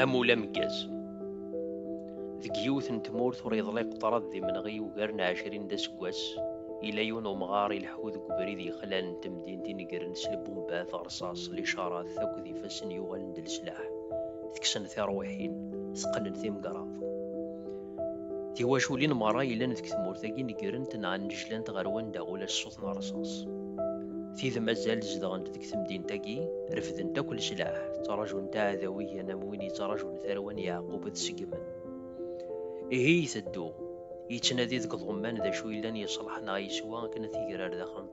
amul ameggaz deg yiwet n tmurt ur yeḍliq ṭrad d imenɣi ugar n ɛecrin d aseggas ila yiwen umɣar ileḥḥu deg ubrid yexlan n temdint inegren s lbumbat rṣaṣ licarat akked ifassen yuɣalen d leslaḥ teksen tiṛwiḥin teqqnen timgraḍ Tiwaculin merra yellan deg tmurt-agi negrent neɣ nnejlant ɣer wanda ula ṣṣut n rrṣaṣ. Tid mazal zedɣent deg temdint-agi, refdent akk leslaḥ, ttrajunt aɛdaw igan am win yettrajun tarwa n Yeɛqub ad seggmen. Ihi iteddu, yettnadi deg iḍumman d acu yellan yeṣleḥ neɣ yeswa akken ad t-igrer daxel n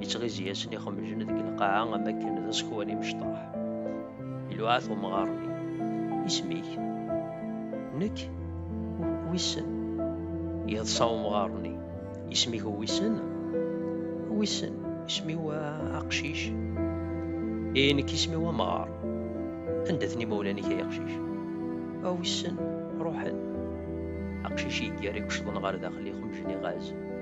yettɣizi asen ixemjen deg lqaɛa am akken d asekwan imecṭaḥ iluɛat umɣar-nni isem-ik nekk wissen yeḍsa umɣar-nni isem-ik wissen wissen isem-iw aqcic ee nekk isem-iw amɣar anda-ten imawlan-ik ay aqcic a wissen ruḥen aqcic yeggar iqecḍen ɣer daxel ixemjen iɣaz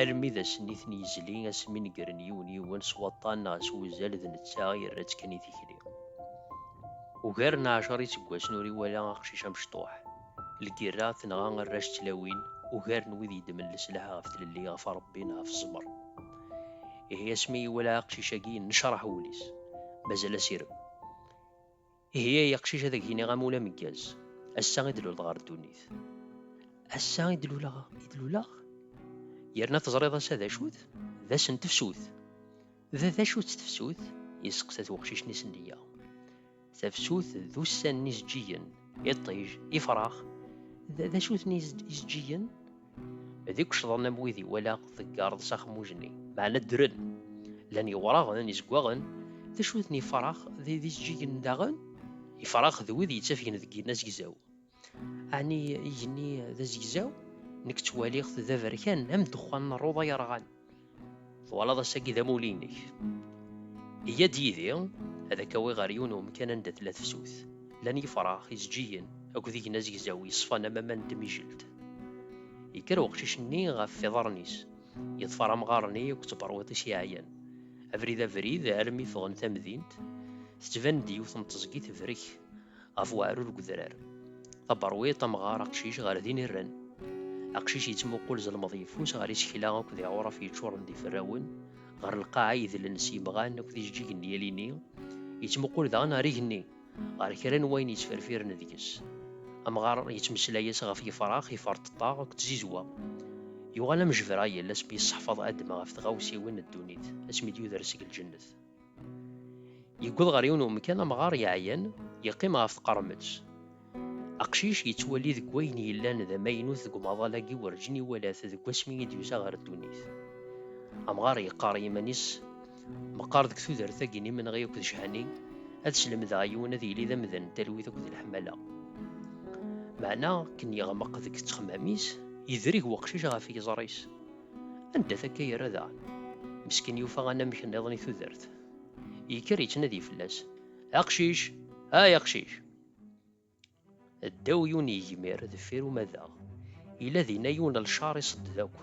Almi d ass-nni i ten-yezli, asmi negren yiwen yiwen s waṭṭan neɣ s wuzal d netta i yerra-tt kan i tikli. Ugar n ɛecṛa iseggasen ur iwala aqcic amecṭuḥ. Lgirra tenɣa arrac d tlawin, ugar n wid yeddmen leslaḥ ɣef tlelli, ɣef Ṛebbi neɣ ɣef ẓẓmer. Ihi asmi iwala aqcic-agi yennecṛaḥ wul-is, mazal asirem. Ihi ay aqcic ad ak-iniɣ amul ameggaz. Ass-a i d-luleḍ ɣer ddunit. Ass-a i d-luleɣ, i d-luleɣ. Yerna teẓriḍ ass-a d acu-t? D ass n tefsut. D d acu-tt tefsut? Yesseqsa-t weqcic-nni s nneyya. Tafsut d ussan n izeǧǧigen, iṭij, ifrax. D d acu-ten izeǧǧigen? d ikucḍen am wid iwala teggareḍ s axmuj-nni, meɛna ddren. Llan yewraɣen, izeggaɣen, d acu ten ifrax d ijeǧǧigen daɣen? Ifrax d wid yettafgen deg yigenni azegzaw. Ɛni igenni d azegzaw? Nekk ttwaliɣ-t d aberkan am ddexxan n rruḍa yerɣan. Twalaḍ ass-agi d amulli-inek. Iyya-d yid-i ad ak-awiɣ ɣer yiwen umkan anda tella tefsut. Llan yifrax, izǧiyen akked igen azegzaw yeṣfan am aman n tmijelt. Yekker weqcic-nni ɣef iḍarren-is, yeḍfer amɣar-nni akked tberwiḍt-is yeɛyan. Abrid abrid, almi ffɣen tamdint, tettban-d yiwet n teẓgi tebrek. ɣef weɛrur deg udrar. Taberwiḍt amɣar aqcic ɣer din irren. Aqcic yettmuqul zelmeḍ yeffus ɣer isekla akked iɛuraf yeččuren d iferrawen, ɣer lqaɛa yedlen s yemɣan akked ijeǧǧigen n yalini, yettmuqul daɣen ɣer igenni, ɣer kra n wayen yettferfiren deg-s. Amɣar yettmeslay-as ɣef yefrax, iferṭeṭṭa akked tzizwa. Yuɣal am Jebrayel asmi yesseḥfaḍ Adem ɣef tɣawsiwin n ddunit, asmi d-yuder seg lǧennet. Yewweḍ ɣer yiwen umkan amɣar yeɛyan, yeqqim ɣef tqermet. Aqcic yettwali deg wayen yellan d amaynut deg umaḍal-agi werǧin iwala-t deg wasmi i d-yusa ɣer ddunit. Amɣar yeqqar i yiman-is, Meqqar deg tudert-agi n imenɣi akked cehani, ad slemdeɣ i yiwen ad yili d amdan n talwit akked leḥmala. Meɛna akken yeɣmeq deg ttexmam-is, yedreg weqcic ɣef yiẓri-s. Anda takka yerra daɣen. Meskin yufa anamek nniḍen i tudert. Yekker yettnadi fell-as. Aqcic! Ay aqcic! Ddaw yiwen yegmir deffir umadaɣ. Yella dinna yiwen n lcar iṣedded akk.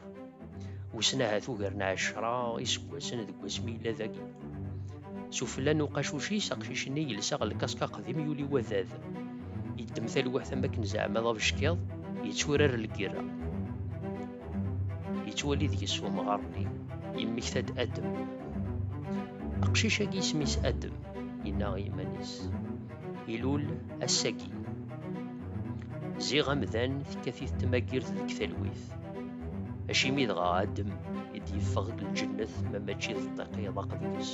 Wissen ahat ugar n ɛecra iseggasen deg wasmi yella dagi. S ufella n uqacuc-is, aqcic-nni yelsa ɣer lkask aqdim yuli wadad. Yeddem talwaḥt am wakken zeɛma d abeckiḍ, yetturar lgirra. Yettwali deg-s umɣar-nni, yemmekta-d Adem. Aqcic-agi isem-is Adem, yenna i yiman-is. Ilul ass-agi. Ziɣ amdan tekkat-it tmagirt deg talwit. Acimi dɣa Adem i d-yeffeɣ deg lǧennet ma mačči d ṭṭiq yeḍaq deg-s?